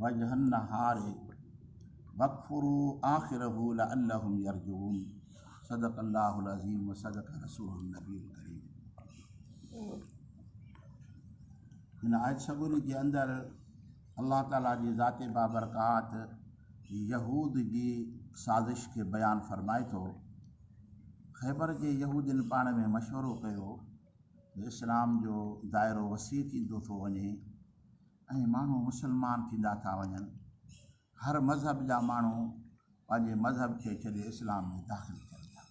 وجه النهار وقفروا آخره لعلهم يرجعون صدق الله العظيم وصدق رسول النبي الڪريم هن آيت سڳوري جي اندر الله تعاليٰ جي ذات بابرڪات يهود جي سازش کي بيان فرمائي ٿو خيبر جي يهودين پاڻ ۾ مشورو ڪيو اسلام جو دائرو وسيع ٿيندو ٿو وڃي ۽ ماڻهو مسلمان ٿيندا ٿا وڃن، هر مذهب جا ماڻهو پنهنجي مذهب کي ڇڏي اسلام ۾ داخل ٿين ٿا.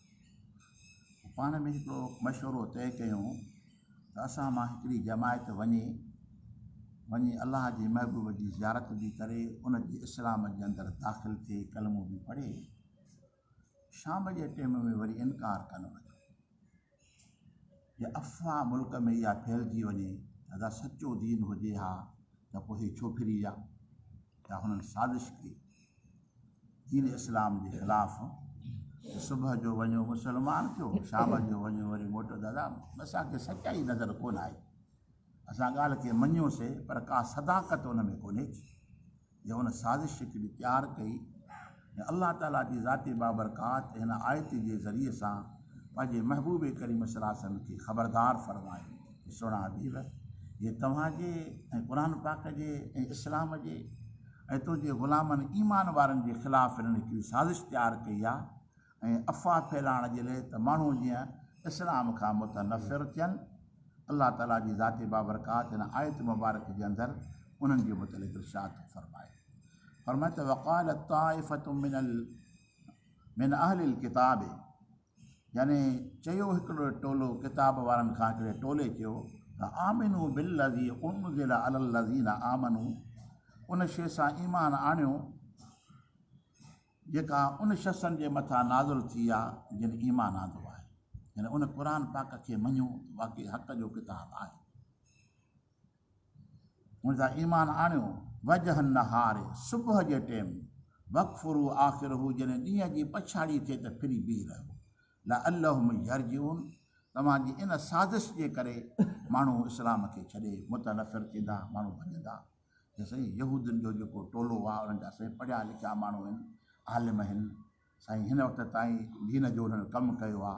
پوء پاڻ ۾ هڪڙو مشورو طئي ڪيون ته اسان مان هڪڙي جماعت وڃي وڃي الله جي محبوب جي زيارت به ڪري ان جي اسلام جي اندر داخل ٿئي ڪلمو به پڙهي. شام جي ٽيم ۾ وري انڪار ڪن وٺو جي افواهه ملڪ ۾ اها ڦهلجي وڃي ته ادا سچو دين هجي ها ته پوء هي ڇو ڦري ويا يا هنن سازش ڪئي دين اسلام جي خلاف صبح جو وڃو مسلمان ٿيو شام جو وڃو وري موٽو دادا اسانکي سچائي نظر ڪونه آئي اسان ڳالهه کي مڃيوسي پر ڪا صداقت ان ۾ ڪونهي جو هن سازش هڪڙي تيار ڪئي ۽ الله تعاليٰ جي ذات بابرڪات هن آيت جي ذريعي سان پنهنجي محبوب ڪريم صلي الله عليه وسلم کي خبردار فرمايو ته سهڻا حبيب! جي توهان جي ۽ قرآن پاڪ جي ۽ اسلام جي ۽ تنهنجي غلامن ايمان وارن جي خلاف هنن هڪڙي سازش تيار ڪئي آهي ۽ افواھ ڦھلائڻ جي لئه ته ماڻھو جيئن اسلام کان متنفر ٿين، الله تعالي جي ذات بابرڪات ھن آيت مبارڪ جي اندر انھن جي متعلق ارشاد ٿو فرمائي فرمائي ته وقالت طائفة من ال من اھل الڪتاب يعني چيو ھڪڙو ٽولو ڪتاب وارن کان ھڪڙي ٽولي چيو ته آمنو بالذي انزل على الذين آمنو ان شيء سان ايمان آڻيو جيڪا ان شخصن جي مٿان نازل ٿي آ جن ايمان آندو آهي يعني ان قرآن پاڪ کي مڃو ته واقعي حق جو ڪتاب آهي ان تان ايمان آڻيو وجه النهار صبح جي ٽيم وقفرو آخر هو جڏهن ڏينهن جي پڇاڙي ٿئي ته ڦري بيهي رهو لعلهم يرجعون توهان جي ان سازش جي ڪري ماڻهو اسلام کي ڇڏي متنفر ٿيندا ماڻهو ڀڄندا چيو سائين يهودين جو جيڪو ٽولو آ انهن جا سائين پڙهيا لکيا ماڻهو آهن عالم آهن سائين هن وقت تائين دين جو انهن ڪم ڪيو آ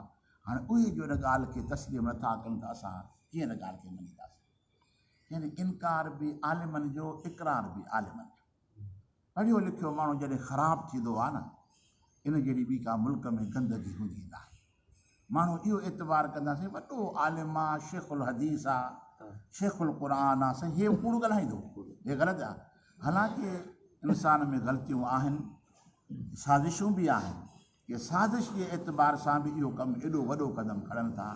هاڻي اهي جو ان ڳالهه کي تسليم نٿا ڪن ته اسان ڪيئن ان ڳالهه کي مڃينداسين يعني انڪار به عالمن جو اقرار به عالمن جو پڙهيو لکيو ماڻهو جڏهن خراب ٿيندو آهي نه ان جهڙي ٻي ڪا ملڪ ۾ گندگي هوندي ناهي ماڻهو اهو اعتبار ڪندا سائين وڏو عالم آ شيخ الحديث آ شيخ القرآن آ سائين هي ڪوڙ ڳالهائيندو هي غلط آ حالانڪه انسان ۾ غلطيون آهن سازشون به آهن ڪي سازش جي اعتبار سان به اهو ڪم ايڏو وڏو قدم کڻن ٿا،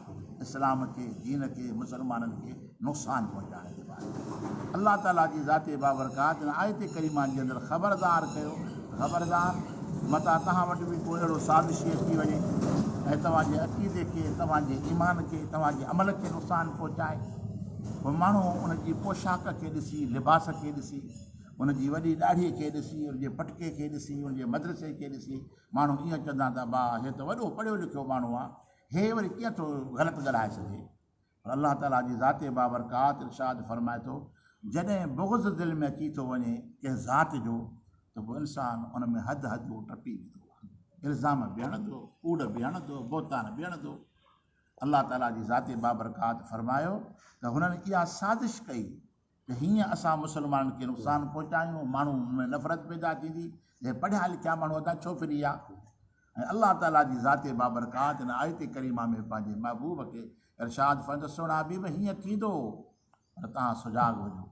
اسلام کي، دين کي، مسلمانن کي نقصان پهچائڻ جي بابت الله تعاليٰ جي ذات بابرڪات هن آيت ڪريمه جي اندر خبردار ڪيو ته خبردار متان توهان وٽ به ڪو اهڙو سازشي اچي وڃي ۽ توهان جي عقيدي کي، توهان جي ايمان کي، توهان جي عمل کي نقصان پهچائي. پوء ماڻهو ان جي پوشاڪ کي ڏسي، لباس کي ڏسي، ان جي وڏي ڏاڙهيء کي ڏسي، ان جي پٽڪي کي ڏسي، ان جي مدرسي کي ڏسي ماڻهو ائين چوندا ته با هي ته وڏو پڙهيو لکيو ماڻهو آ، هي وري ڪيئن ٿو غلط ڳالهائي سگهي؟ پر الله تعاليٰ جي ذات بابرڪات ارشاد فرمائي ٿو، جڏهن بغض دل ۾ اچي ٿو وڃي ڪنهن ذات جو ته پوء انسان ان ۾ حد حدون ٽپي ويندو آ، الزام به هڻندو، ڪوڙ به هڻندو، بهتان به هڻندو. الله تعاليٰ جي ذات بابرڪات فرمايو ته هنن اها سازش ڪئي ته هيئن اسان مسلمانن کي نقصان پهچايون، ماڻهن ۾ نفرت پيدا ٿيندي، جنهن پڙهيا لکيا ماڻهو هتان ڇو ڦري ويا؟ ۽ الله تعاليٰ جي ذات بابرڪات هن آيت ڪريمه ۾ پنهنجي محبوب کي ارشاد فرمائي ته سهڻا حبيب هيئن ٿيندو پر توهان سجاڳ هجو.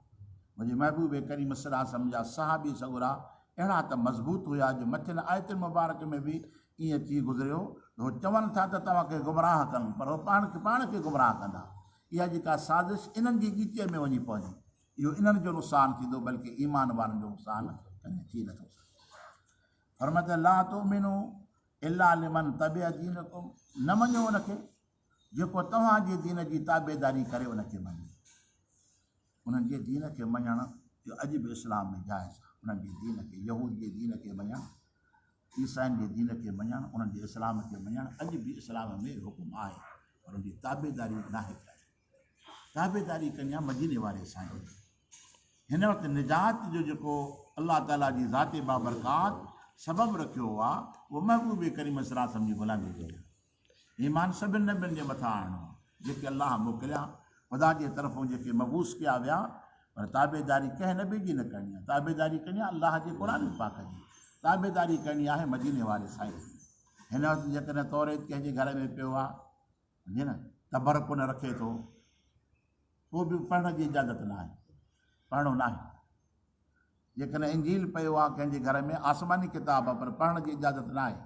منهنجي محبوب ڪريم صلي الله عليه وسلم جا صحابي سڳورا اهڙا ته مضبوط هيا جو مٿين آيتن مبارڪ ۾ به ائين ٿي گذريو ته هو چون ٿا ته توهان کي گمراهه ڪن پر هو پاڻ کي پاڻ کي گمراهه ڪندا اها جيڪا سازش انهن جي ڳيچيء ۾ وڃي پوندي، اهو انهن جو نقصان ٿيندو بلڪه ايمان وارن جو نقصان ڪڏهن ٿي نه ٿو سگهي. فرمايو ته، لا تؤمنو الا لمن تبع دينڪم، نه مڃو ان کي جيڪو توهان جي دين جي تابعداري ڪري ان کي مڃي. انهن جي دين کي مڃڻ جو اڄ به اسلام ۾ جائز آهي. انهن جي دين کي، يهود جي دين کي مڃڻ عيسائين جي دين کي مڃڻ، انهن جي اسلام کي مڃڻ اڄ به اسلام ۾ حڪم آهي پر ان جي تابعداري ناهي ڪرڻي. تابعداري ڪرڻي آهي مديني واري سائين جي. هن وقت نجات جو جيڪو الله تعاليٰ جي ذات بابرڪات سبب رکيو آهي اهو محبوب ڪريم صلعم جي غلامي جو آهي. ايمان سڀن نبين جي مٿان آڻڻو آهي جيڪي الله موڪليا، خدا جي طرفون جيڪي مبعوث ڪيا ويا، پر تابعداري ڪنهن نبي جي نه ڪرڻي آهي، تابعداري ڪرڻي آهي الله جي قرآن پاڪ جي، تابعداري ڪرڻي آهي مديني واري سائيء جي. هن وقت جيڪڏهن توريت ڪنهن جي گهر ۾ پيو آهي، سمجهي نه، تبرڪ نه رکي ٿو، ڪو به پڙهڻ جي اجازت ناهي، پڙهڻو ناهي. جيڪڏهن انجيل پيو آ ڪنهن جي گهر ۾ آسماني ڪتاب آ پر پڙهڻ جي اجازت ناهي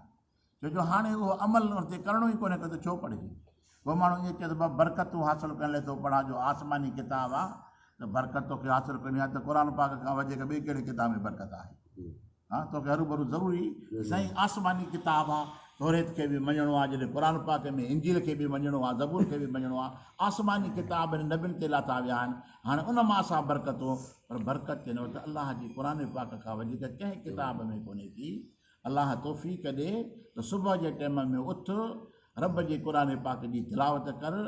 ڇو جو هاڻي اهو عمل ان تي ڪرڻو ئي ڪونهي ڪو ته ڇو پڙهجي. ڪو ماڻهو ائين چئي ٿو ڀا برڪتون حاصل ڪرڻ لئي ٿو پڙهان جو آسماني ڪتاب آ ته برڪت توکي حاصل ڪرڻي آ ته قرآن پاڪ کان وڌيڪ ٻئي ڪهڙي ڪتاب ۾ برڪت آهي. ها توکي هروڀرو ضروري سائين آسماني ڪتاب آ توريت کي به مڃڻو آ جڏهن قرآن پاڪ ۾ انجيل کي به مڃڻو آ زبور کي به مڃڻو آ آسماني ڪتاب هن نبين تي لاٿا ويا آهن هاڻي ان مان اسان برڪتون پر برڪت تي نه ته الله جي قرآن پاڪ کان وڌيڪ ڪنهن ڪتاب ۾ ڪونهي ٿي الله توفيق ڏي ته صبح جي ٽيم ۾ اٿ رب جي قرآن پاڪ جي تلاوت ڪر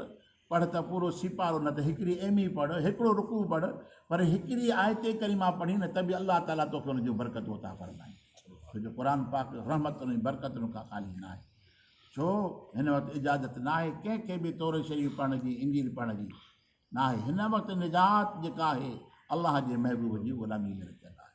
پڙهه ته پورو سيپارو نه ته هڪڙي ايم اي پڙهه، هڪڙو رڪوع پڙهه، پر هڪڙي آيت ڪريمه پڙهين نه ته به الله تعاليٰ توکي ان جون برڪتون عطا فرمائين. ڇو جو قرآن پاڪ رحمتن ۽ برڪتن کان خالي نه آهي. ڇو هن وقت اجازت نه آهي ڪنهن کي به توريت شريف پڙهڻ جي، انجيل پڙهڻ جي نه آهي. هن وقت نجات جيڪا آهي الله جي محبوب جي غلاميء ۾ رکيل آهي.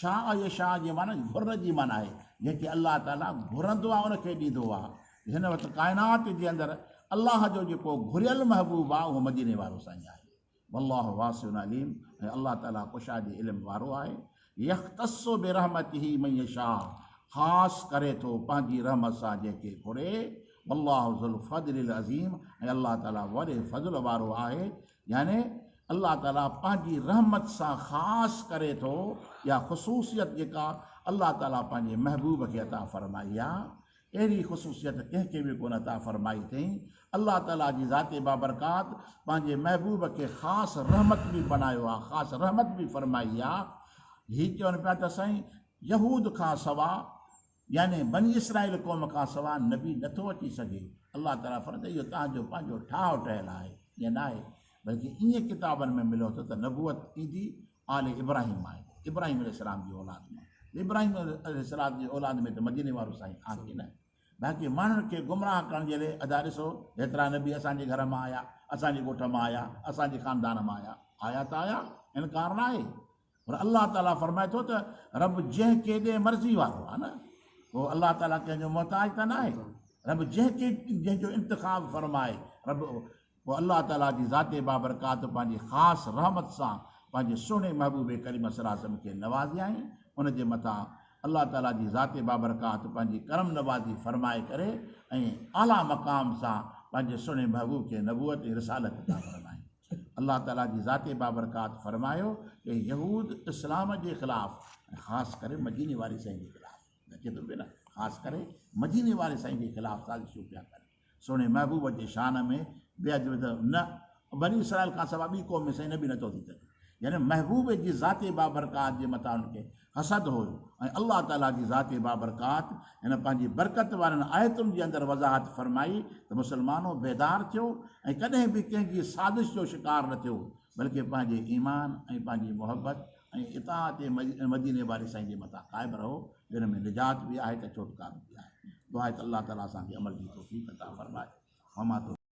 شاء يا شاء جي معني گهر جي معني آهي جيڪي الله تعالي گهرندو آهي ان کي ڏيندو آهي هن وقت ڪائنات جي اندر الله جو جيڪو گهريل محبوب آهي اهو مديني وارو سائين آهي والله واسع عليم ۽ الله تعالي ڪشا جي علم وارو آهي يختص برحمته من يشاء خاص ڪري ٿو پنهنجي رحمت سان جنهن کي گهري والله ذو الفضل العظيم ۽ الله تعالي وڏي فضل وارو آهي يعني الله تعالي پنهنجي رحمت سان خاص ڪري ٿو، اها خصوصيت جيڪا الله تعالي پنهنجي محبوب کي عطا فرمائي آهي، اهڙي خصوصيت ڪنهن کي به ڪونه عطا فرمائي اٿئين، الله تعالي جي ذات بابرڪات پنهنجي محبوب کي خاص رحمت به بنايو آهي، خاص رحمت به فرمائي آهي، هي چون پيا ته سائين يهود کان سوا يعني بني اسرائيل قوم کان سواء نبي نه ٿو اچي سگهي. الله تعاليٰ فرمائي ٿو، اهو توهان جو پنهنجو ٺاهه ٺهيل آهي، ائين نه آهي، بلڪ ائين ڪتابن ۾ مليو اٿو ته نبوت ايندي آل ابراهيم مان ايندي، ابراهيم عليه السلام جي اولاد مان، ته ابراهيم عليه السلام جي اولاد ۾ ته مديني وارو سائين آهي نه. باقي ماڻهن کي گمراهه ڪرڻ جي لئه ادا ڏسو، هيترا نبي اسان جي گهر مان آيا، اسان جي ڳوٺ مان آيا، اسان جي خاندان مان آيا، آيا ته آيا، انڪار نه آهي. پر الله تعالي فرمائي ٿو ته رب جنهن ڪي ڏي مرضي وارو آهي نه پوء الله تعالي ڪنهن جو محتاج ته ناهي رب جنهن ڪي جنهن جو انتخاب فرمائي رب پوء الله تعالي جي ذات بابرڪات پنهنجي خاص رحمت سان پنهنجي سهڻي محبوب ڪريم صلي الله عليه وسلم کي نوازيائين ان جي مٿان الله تعالي جي ذات بابرڪات پنهنجي ڪرم نوازي فرمائي ڪري ۽ اعليٰ مقام سان پنهنجي سهڻي محبوب کي نبوت ۽ رسالت عطا فرمائي الله تعالي جي ذات بابرڪات فرمايو ته يهود اسلام جي خلاف ۽ خاص ڪري مديني واري سائين جي خلاف اچي ٿو پيو نه خاص ڪري مديني واري سائين جي خلاف سازشون پيا ڪن سهڻي محبوب جي شان ۾ بي ادب نه بني اسرائيل کان سواء ٻي قوم ۾ سائين نبي نٿو ٿي سگهي يعني محبوب جي ذات بابرڪات جي مٿان ان کي اسد هو ۽ الله تعاليٰ جي ذات بابرڪات هن پنهنجي برڪت وارين آيتن جي اندر وضاحت فرمائي ته مسلمانو بيدار ٿيو ۽ ڪڏهن به ڪنهن جي سازش جو شڪار نه ٿيو بلڪه پنهنجي ايمان ۽ پنهنجي محبت ۽ اطاعت مديني واري سائين جي مٿان قائم رهو جنهن ۾ نجات به آهي ته ڇوٽڪارو به آهي دعا آهي ته الله تعاليٰ اسان کي عمل جي توفيق عطا فرمائي وما